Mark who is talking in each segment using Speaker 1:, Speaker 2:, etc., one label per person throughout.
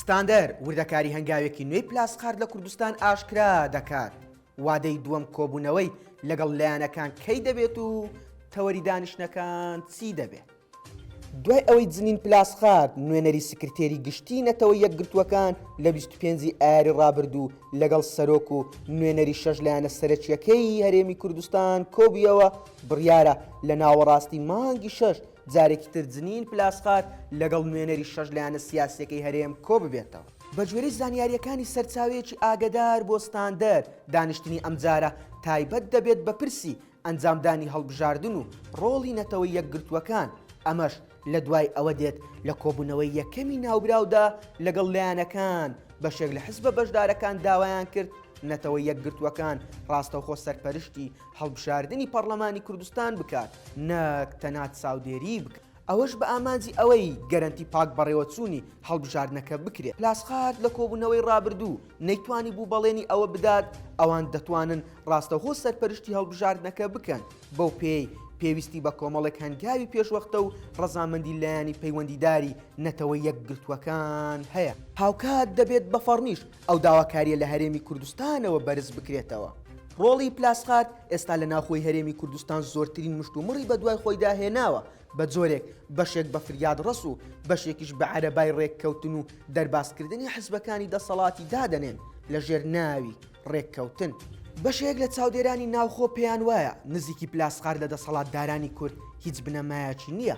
Speaker 1: ستاندەر وردەکاری هەنگاوێکی نوێی پلاسقارد لە کوردستان ئاشکرا دەکات، وادەی دووەم کۆبوونەوەی لەگەڵ لایەنەکان کەی دەبێت و تەوەری دانیشتنەکان چی دەبێت؟ دوای ئەوەی جنین پلاسخارد نوێنەری سکرتێری گشتی نەتەوە یەکگرتووەکان لە 25 ی ئایاری ڕابردوو لەگەڵ سەرۆک و نوێنەری شەش لایەنە سەرەکیەکەی هەرێمی کوردستان کۆبیەوە بڕیارە لە ناوەڕاستی مانگی شەش جارێکی تر جنین پلاسخار لەگەڵ نوێنەری شەش لایەنە سیاسییەکەی هەرێم کۆببێتەوە. بەگوێرەی زانیارییەکانی سەرچاوەیەکی ئاگەدار بۆ ستاندەر، دانیشتنی ئەمجارە تایبەت دەبێت بە پرسی ئەنجامدانی هەڵبژاردن و ڕۆڵی نەتەوە یەکگرتووەکان، ئەمەش لەدوای ئەوە دێت لە کۆبوونەوەی یەکەمی ناوبراودا لەگەڵ لایەنەکان، بەشێک لە حزبە بەشدارەکان داوایان کرد نەتەوە یەکگرتووەکان ڕاستەوخۆ سەرپەرشتی هەڵبژاردنی پەڕلەمانی کوردستان بکات نەک تەنها چاودێریی بکات، ئەوەش بە ئامانجی ئەوەی گەرەنتی پاک بەڕێوەچوونی هەڵبژاردنەکە بکرێت. پلاسخارت لە کۆبوونەوەی رابردوو نەیتوانیبوو بەڵێنی ئەوە بدات ئەوان دەتوانن راستەوخۆ سەرپەرشتی هەڵبژاردنەکە بکەن، بەو پێیەی پێویستی بە کۆمەڵێک هەنگاوی پێشوەختە و رەزامەندی لایەنی پەیوەندیداری نەتەوە یەکگرتووەکان هەیە. هاوکات دەبێت بە فەڕمیش ئەو داواکارییە لە هەرێمی کوردستانەوە بەرز بکرێتەوە. ڕۆڵی پلاسخارت ئێستا لە ناوخۆی هەرێمی کوردستان زۆرترین مشتومڕی بەدوای خۆیدا هێناوە، بە جۆرێک بەشێک بە فریادڕەس و بەشێکیش بە عەرەبای ڕێککەوتن و دەربازکردنی حزبەکانی دەسەڵاتی دادەنێن لە ژێر ناوی ڕێککەوتن. بەشێک لە چاودێرانی ناوخۆ پێیانوایە، نزیکی پلاسخارت لە دەسەڵاتدارانی کورد هیچ بنەمایەکی نییە،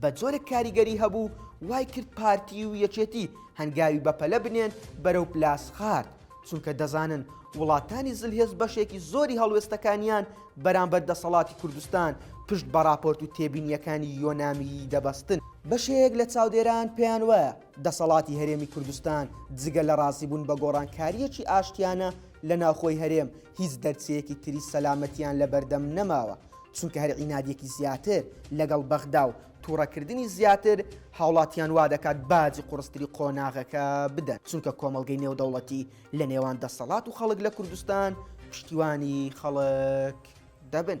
Speaker 1: بە جۆرێک کاریگەری هەبوو وای کرد پارتی و یەکێتی هەنگاوی بەپەلە بنێن بەرەو پلاسخارت چونکە دەزانن وڵاتانی زلهێز بەشێکی زۆری هەڵوێستەکانیان بەرامبەر دەسەڵاتی کوردستان پشت بە راپۆرت و تێبینیەکانی یۆنامیی دەبەستن بەشێک لە چاودێران پێیان وایە دەسەڵاتی هەرێمی کوردستان جگە لە رازیبوون بە گۆڕانکارییەکی ئاشتیانە لە ناوخۆی هەرێم هیچ دەرچەیەکی تری سەلامەتیان لەبەردەم نەماوە چونکە هەر عینادیەکی زیاتر لەگەڵ بەغدا و توڕەکردنی زیاتر هاوڵاتیان وادەکات باجی قوڕستری قۆناغەکە بدەن، چونکە کۆمەڵگەی نێودەوڵەتی لە نێوان دەسەڵات و خەڵک لە کوردستان پشتیوانی خەڵک دەبن.